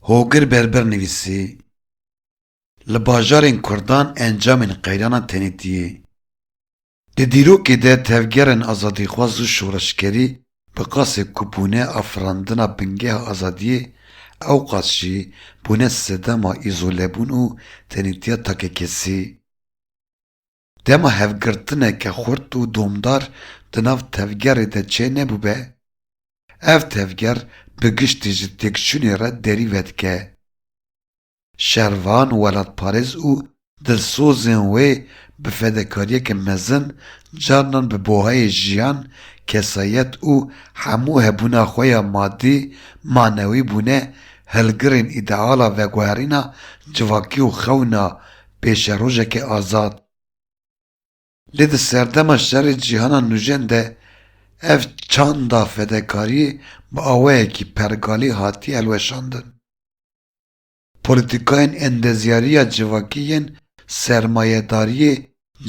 Hogir Berber nivîsî, Li bajarên Kurdan encamên qeyrana tenêtiyê, di dîrokê de tevgerên azadîxwaz û şoreşgerî bi qasê ku bûne afirandina bingeha azadiyê ew qas jî bûne sedema îzolebûn û tenêtiya takekesî. Dema hevgirtineke xurt û domdar di nav tevgerê de çênebûbe, ev tevger bi giştî ji têkçûnê re derî vedike. Şervan welatparêz û dilsozên wê bi fedekariyeke mezin carinan bi buhayê jiyan, kesayet û hemû hebûna xwe ya madî, manewî bûne hilgirên îdeala veguherîna civakî û xewna pêşerojekê azad. Lê di serdema şerê cîhana nûjen de ev çanda fedekariyê bi awayekî pergalî hatiye hilweşandin. Polîtîkayên endezyariya civakî yên sermayedariyê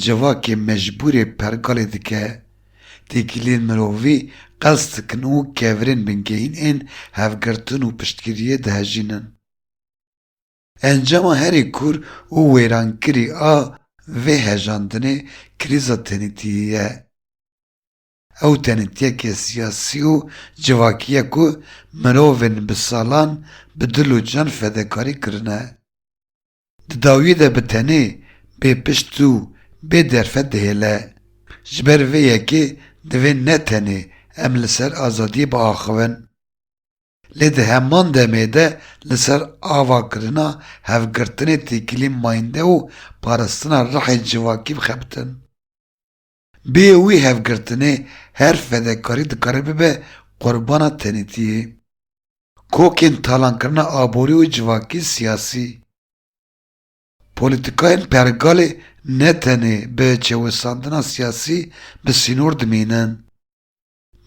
civakê mecbûrê pergalê dike. Têkiliyên mirovî qels dikin û kevirên bingehîn ên hevgirtin û piştgiriyê dihejînin. Encama herî kûr û wêrankirî a vê hejandinê krîza tenêtiyê ye. Ew tenêtiyeke siyasî û civakî ye ku mirovên bi salan bi dil û can fedekarî kirine. Di dawiyê de bi tenê, bê pişt û bê derfet dihêle. Ji ber vê yekê divê ne tenê em li ser azadiyê biaxivin. Lê di heman demê de li ser ava kirina hevgirtinê têkilî mayînde û parastina rihê civakî bixebitin. Bê wî hevgirtinê her fedekarî dikare bibe qurbana tenêtiyê. Kokên talankirina aborî û civakî siyasî, polîtîkayên pergalê ne tenê bi çewisandina siyasî bi sînor dimînin.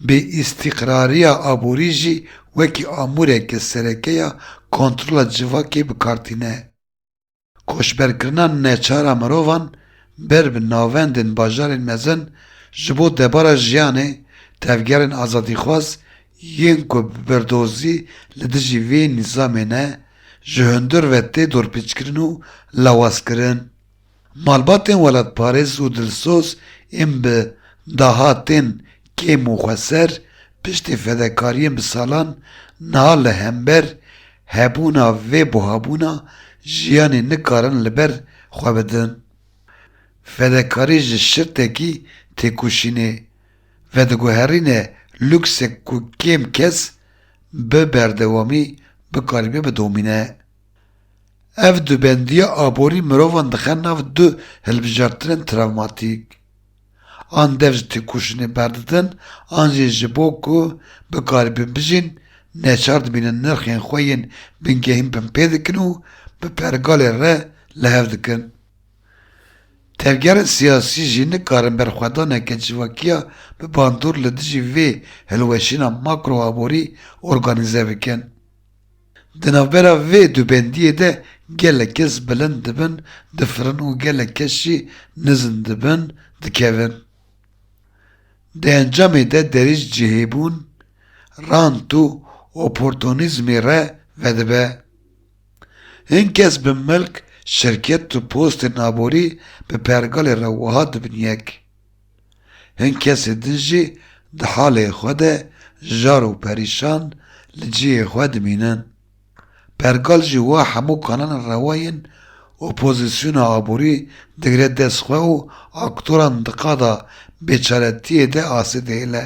Bêîstîqrariya aborî jî wekî amûreke sereke ya kontrola civakê bi kar tîne. Koçberkirina neçar a mirovan ber bi navendên bajarên mezin ji bo debara jiyanê tevgerên azadîxwaz yên ku bi birdozî li dijî vê nîzamê ne, ji hundir ve tê dorpêçkirin û lawazkirin. Malbatên welatparêz û dilsoz ên bi dahatên kêm û xweser piştî fedekariyên bi salan niha li hember hebûna vê buhabûna jiyanê nikarin li ber xwe bidin. Fedekarî ji şirtekî têkoşînê vediguherîne luksek ku kêm kes bi berdewamî bikarîbe bidomîne. Ev du bendiya aborî mirovan dixe nav du hilbijartinên travmatîk. An dev ji têkoşînê berdidin an jî ji bo ku bikaribin bijîn neçar dibînin nirxên xwe yên bingehîn binpê dikin û bi pergalê re li hev dikin. Tevgerên siyasî jî nikarin berxwedaneke civakiya bi bandor li dijî vê hilweşîna makro-aborî organîze bikin. Di navbera vê du bendiyê de gelek kes bilind dibin, difirin û gelek kes jî nizin dibin, dikevin. Di encamê de derî ji cihêbûn, rant û oportonîzmê re vedibe. Hin kes bi milk, şirket û postên aborî bi pergalê re wiha dibin yek. Hin kesê din jî di halê xwe de jar û perîşan li cihê xwe dimînin. Pergal jî wa hemû kalan rewa yên opozîsyona aborî digire dest xwe û aktoran di qada bêçaretiyê de asê dihêle.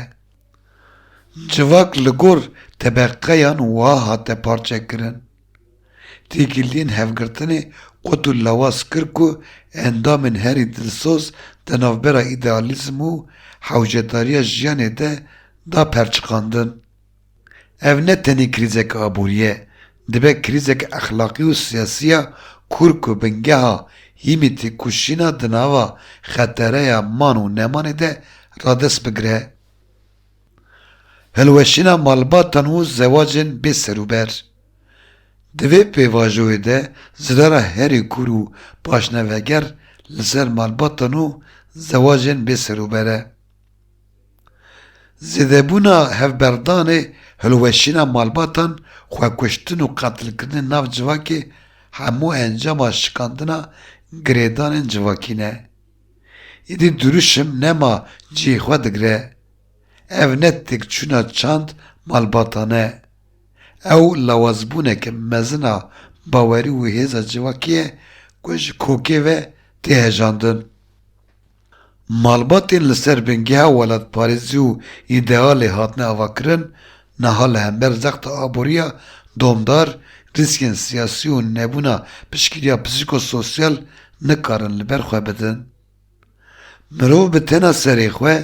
Civak li gor tebeqeyan wiha hate parçekirin. Têkiliyên hevgirtinê qut û lewaz kir ku endamên herî dilsoz di navbera îdealîzm û hewcedariya jiyanê de da perçiqandin. Ev ne tenê krîzeke aborî ye, dibe krîzeke exlaqî û siyasî ya kûr ku bingeha hîmî têkoşîna di nava xetereya man û nemanê de radest bigire. Hilweşîna malbatan û zewacên bê serûber, Di vê pêvajoyê de zirara herî kûr û paşneveger li ser malbatan û zewacên bê serûber e. Zêdebûna hevberdanê hilweşîna malbatan, xwekuştin û qetilkirinên nav civakê hemû encama şikandina girêdanên civakî ne. Îdî dirûşim nema cihê xwe digire Ev ne têkçûna çand malbatan e, ew lawazbûneke mezin a bawerî û hêza civakî ye ku ji kokê ve tê hejandin. Malbatên li ser bingeha welatparêzî û îdealê hatine avakirin, niha li hember zexta aboriya domdar, rîskên siyasî û nebûna piştgiriya psîko-sosyal nikarin li ber xwe bidin. Mirov bi tena serê xwe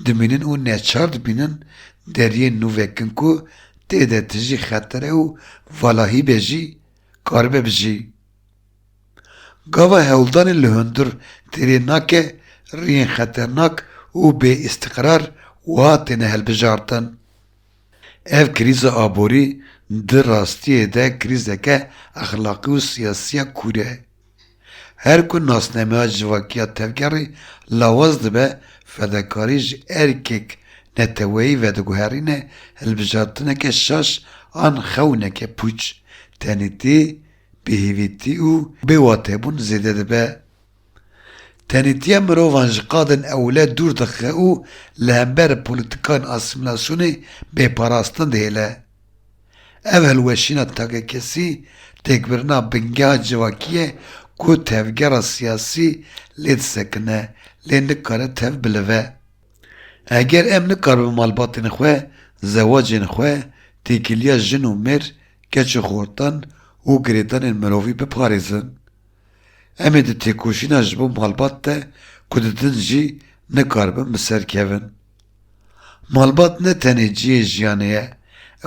dimînin û neçar dibînin deriyên nû vekin ku tê de tijî xetere û valahî be jî karibe bijî. Gava hewldanê li hundir têrê nake riyên xeternak û bêîstiqrar wiha têne hilbijartin, Ev krîza aborî di rastiyê de krîzeke exlaqî û siyasî ya kûr e. Her ku nasnameya civakiya tevgerî lawaz dibe, fedakarî ji erkek neteweyî vediguherîne hilbijartineke şaş an xewneke pûç, tenêtî, bêhêvîtî û bêwatebûn zêde dibe. Tenêtiya mirovan ji qadên ewle dûr dixe û li hember polîtîkayên asîmîlasyonê bêparastin dihêle. Ev hilweşîna takekesî têkbirina bingeha civakî ye ku tevgera siyasî lê disekine lê nikare tev bilive. Eger em nikaribin malbatên xwe, zewacên xwe, têkiliya jin û mêr, keç û xortan û girêdanên mirovî biparêzin, em ê di têkoşîna ji bo malbat de ku didin jî nikaribin bi ser kevin. Malbat ne tenê cihê jiyanê ye,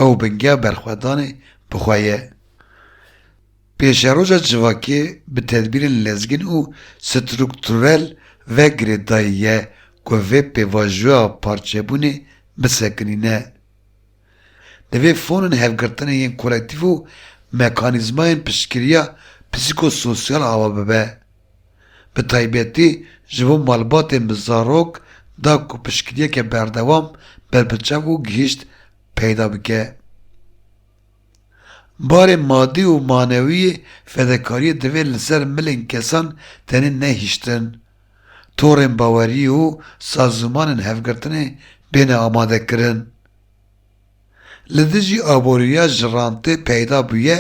ew bingeha berxwedanê bi xwe ye. Pêşeroja civakê bi tedbîrên lezgîn û strukturel ve girêdayî ye ku vê pêvajoya parçebûnê bisekinîne. Divê fonên hevgirtinê yên kolektîf û mekanîzmayên piştgiriya psîkososyal ava bibe. Bi taybetî ji bo malbatên bi zarok da ku piştgiriyeke berdewam berbiçav û gihîşt peyda bike. Barê madî û manewî yê fedekariyê divê li ser milên kesan tenê nehiştin. torên bawerî û sazûmanên hevgirtinê bêne amadekirin. Li dijî aboriya ji rantê peyda bûye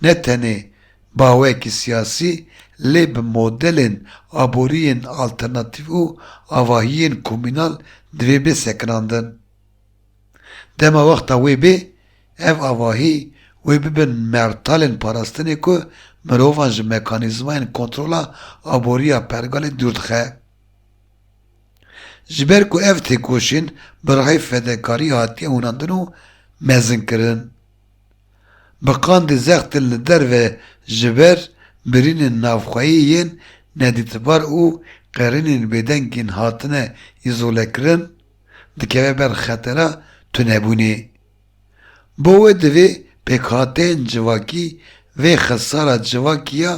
ne tenê bawekî siyasî lê bi modelên aboriyên alternatîf û avahiyên komînal divê bê sekinandin. Dema wexta wê bê, ev avahî wê bibin mertalên parastinê ku mirovan ji mekanîzmayên kontrola aborî ya pergalê dûr dixe. Ji ber ku ev têkoşîn bi rihê fedekarî hatiye hûnandin û mezinkirin. Bi qandê zextin li derve ji ber birînên navxweyî yên nedîtbar û qerînên bêdengên hatine îzolekirin, dikeve ber xetera tunebûnê. Bo wê divê pêkhateyên civakî vê xesara civakî ya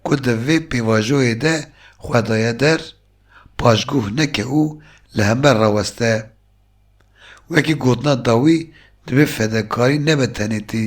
ku di vê pêvajoyê de xwe daye der, paşguh neke û li hember raweste. Wekî gotina dawî divê fedekarî nebe tenêtî.